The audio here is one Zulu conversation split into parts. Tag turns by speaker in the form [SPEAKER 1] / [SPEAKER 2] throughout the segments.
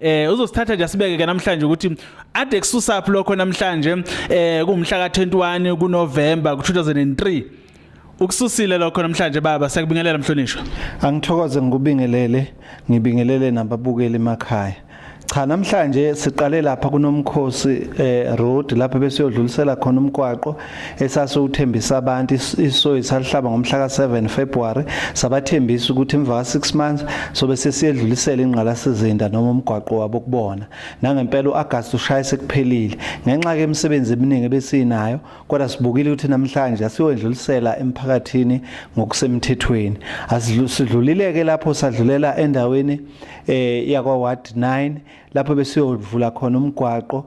[SPEAKER 1] Eh uzosithatha nje sibeke ke namhlanje ukuthi ade kususaphi lokho namhlanje eh kumhla ka 21 kuNovember 2003 ukususile lokho namhlanje baba siyakubingelela mhlonishwa angithokoze
[SPEAKER 2] ngikubingelele ngibingelele nababukeli emakhaya cha namhlanje siqale lapha kunomkhosi eh road lapha besiyodlulisela khona umgwaqo esasiwuthembisa abantu isoyi salihlaba ngomhla ka-7 February sabathembisa ukuthi emva ka-6 months sobe sesiyedlulisela ingqalasizinda noma umgwaqo wabo kubona nangempela u-August ushaya sekuphelile ngenxa ke imisebenzi eminingi ebesinayo kodwa sibukile ukuthi namhlanje asiyoyedlulisela emphakathini ngokusemthethweni asidlulileke lapho sadlulela endaweni eh yakwa ward 9 lapho besiyovula khona umgwaqo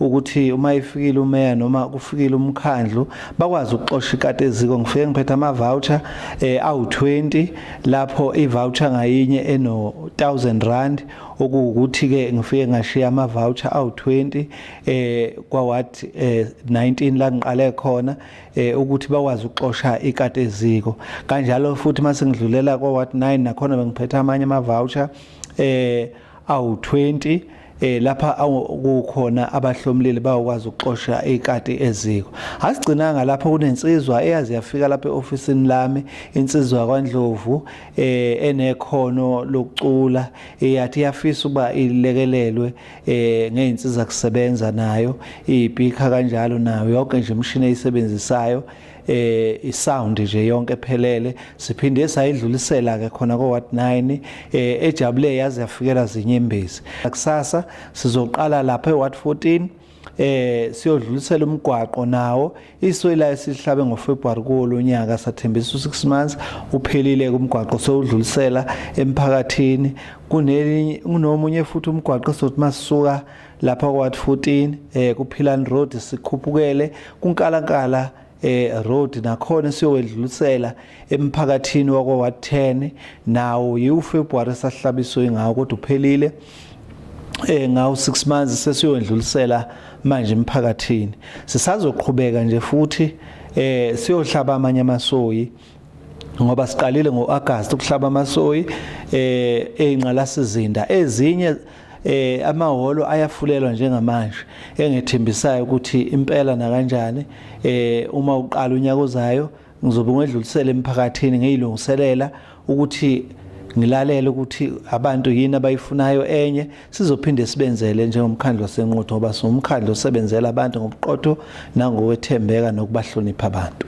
[SPEAKER 2] ukuthi uma ifikile umeya noma kufikile umkhandlu bakwazi ukuxosha ikati eziko ngifike ngiphethe ama-voucher eh, awu-20 lapho i-voucher ngayinye eno-1000 rand okuwukuthi-ke ngifike ngashiya ama-voucher awu-20 eh, kwaward eh, 19 la ngiqale khona eh, ukuthi bakwazi ukuxosha ikati eziko kanjalo futhi uma sengidlulela kwaward 9 nakhona bengiphethe amanye ama-voucher eh awu-20 eh lapha kukhona abahlomlili bayokwazi ukuxosha ikati eziko asigcinanga lapho kunensizwa eyazi yafika lapha eofisini lami insizwa kwaNdlovu eh enekhono lokucula eyathi yafisa uba ilekelelwe eh ngeinsiza kusebenza nayo ibhikha kanjalo nayo yonke nje imshini eyisebenzisayo eh isound nje yonke ephelele siphinde sayidlulisela ke khona ko ward 9 eh ejabule yaze yafikela zinyembezi kusasa sizoqala lapha eward 14 eh siyodlulisela umgwaqo nawo iswela esihlabe ngoFebruary kolonyaka sathembisa u6 months uphelile kumgwaqo sewudlulisela emphakathini kunelinye kunomunye futhi umgwaqo sothi masisuka lapha kwathi 14 eh kuphilani road sikhuphukele kunkalankala eh road nakhona siyowedlulisela emphakathini wakwa ward 10 nawo yiwu February sahlabiswe ngawo kodwa uphelile eh ngawo 6 months sesiyondlulisela manje emphakathini sisazoqhubeka nje futhi eh siyohlaba amanye amasoyi ngoba siqalile ngoAugust ukuhlaba amasoyi eh einqalasizinda ezinye eh amahholo ayafulelwa njengamanje engethembisayo ukuthi impela nakanjani eh uma uqala unyaka ozayo ngizobe ngedlulisele emphakathini ngiyilungiselela ukuthi ngilalele ukuthi abantu yini abayifunayo enye sizophinde sibenzele njengomkhandlu wasenquthu ngoba siwumkhandlu osebenzela abantu ngobuqotho nangokwethembeka nokubahlonipha abantu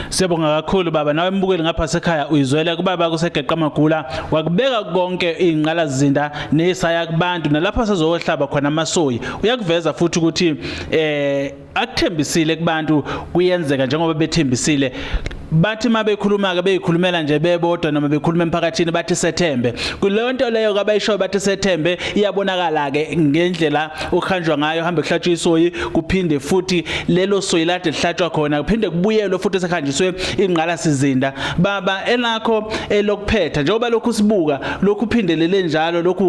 [SPEAKER 2] Siyabonga
[SPEAKER 1] kakhulu baba nawe mbukeli ngapha sekhaya uyizwele kubaba kusegeqa magula wakubeka konke ingqala zinda nesaya kubantu nalapha sezohlaba khona amasoyi uyakuveza futhi ukuthi eh akuthembisile kubantu kuyenzeka njengoba bethembisile bathi uma bekhuluma-ke beyikhulumela nje bebodwa noma bekhuluma emphakathini bathi sethembe kuleyo nto leyo kabayishoyo bathi sethembe iyabonakala-ke ngendlela okuhanjwa ngayo hambe kuhlatshwa isoyi kuphinde futhi lelo soyi lade lihlatshwa khona kuphinde kubuyelwe futhi sekuhanjiswe ingqala sizinda baba elakho elokuphetha njengoba lokhu sibuka lokhu phindelele njalo lokhu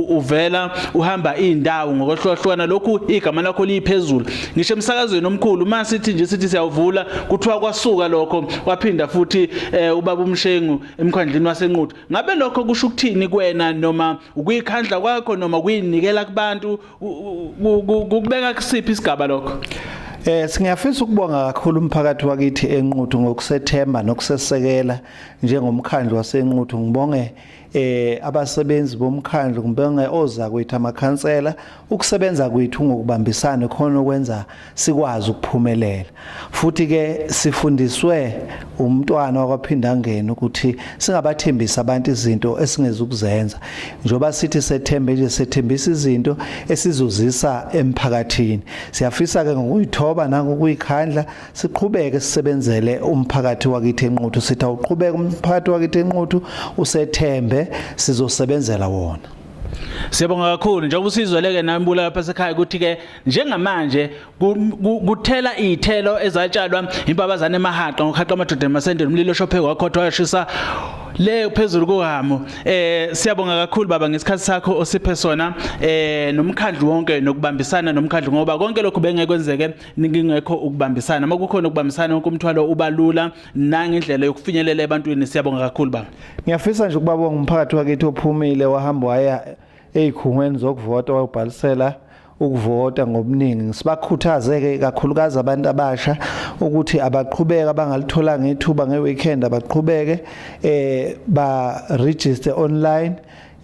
[SPEAKER 1] uvela uhamba iy'ndawo ngokwehlukahlukana lokhu igama lakho liyiphezulu ngisho emsakazweni omkhulu uma sithi nje sithi siyawuvula kuthiwa kwasuka lokho waphinda futhi eh, ubaba umshengu emkhandlini wasenquthu ngabe lokho kusho ukuthini kwena noma ukuyikhandla kwakho noma kuyinikela kubantu kukubeka kusiphi isigaba lokho Eh singiyafisa
[SPEAKER 2] ukubonga kakhulu umphakathi wakithi enquthu ngokusethemba nokusesekela njengomkhandlu wasenquthu ngibonge eh abasebenzi bomkhandlu kumbe oza kwethu amakhansela ukusebenza kwethu ngokubambisana khona okwenza sikwazi ukuphumelela futhi ke sifundiswe umntwana wakwaphinda ngene ukuthi singabathembisa abantu izinto esingezukuzenza njoba sithi sethembe nje sethembisa izinto esizozisa emphakathini siyafisa ke ngokuyithoba nangokuyikhandla siqhubeke sisebenzele umphakathi wakithi enquthu sithi awuqhubeke umphakathi wakithi enquthu usethembe sizosebenzela wona Siyabonga
[SPEAKER 1] kakhulu njengoba usizweleke nami bula lapha sekhaya ukuthi ke njengamanje kuthela izithelo ezatshalwa impabazana emahaqa ngokhaqwa amadoda emasendeni umlilo shophe wakhothwa yashisa le phezulu kuhamo eh siyabonga kakhulu baba ngesikhathi sakho osiphe sona eh nomkhandlu wonke nokubambisana nomkhandlu ngoba konke lokhu bengekwenzeke ngingekho ukubambisana uma kukhona ukubambisana wonke umthwalo ubalula nangendlela yokufinyelela ebantwini siyabonga kakhulu baba ngiyafisa nje ukubabonga
[SPEAKER 2] umphakathi wakithi ophumile wahamba waya ezikhungweni zokuvota wayobhalisela ukuvota ngobuningi sibakhuthaze-ke kakhulukazi abantu abasha ukuthi abaqhubeke abangalitholanga ithuba nge-weekend abaqhubeke eh ba-register online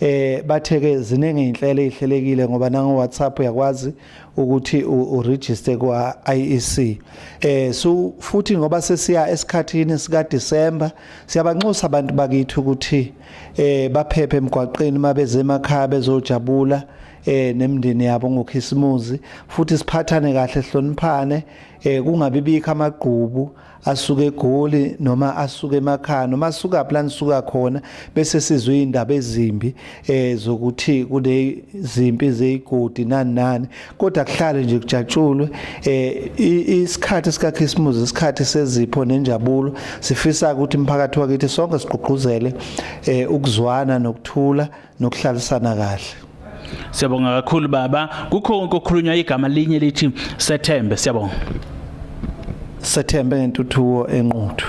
[SPEAKER 2] eh bathe-ke ziningi iy'nhlelo ey'hlelekile ngoba nango-whatsapp uyakwazi ukuthi uregister kwa IEC eh so futhi ngoba sesiya esikhathini sika December siyabanxusa abantu bakithi ukuthi eh baphephe emgwaqeni mabeze emakhaya bezojabula eh nemndeni yabo ngokhisimuzi futhi siphathane kahle hloniphane eh kungabibikho amagqubu asuke egoli noma asuke emakhaya noma asuka phi lanisuka khona bese sizwe izindaba ezimbi eh zokuthi kule zimpi zeyigodi nani nani kodwa kuhlale nje kujatshulwe eh isikhathi sika Christmas isikhathi sezipho nenjabulo sifisa ukuthi umphakathi wakithi sonke sigqugquzele eh ukuzwana nokuthula nokuhlalisana kahle siyabonga
[SPEAKER 1] kakhulu baba kukho konke okukhulunywa igama linye lithi sethembe
[SPEAKER 2] siyabonga
[SPEAKER 1] sethembe
[SPEAKER 2] ngentuthuko
[SPEAKER 1] enquthu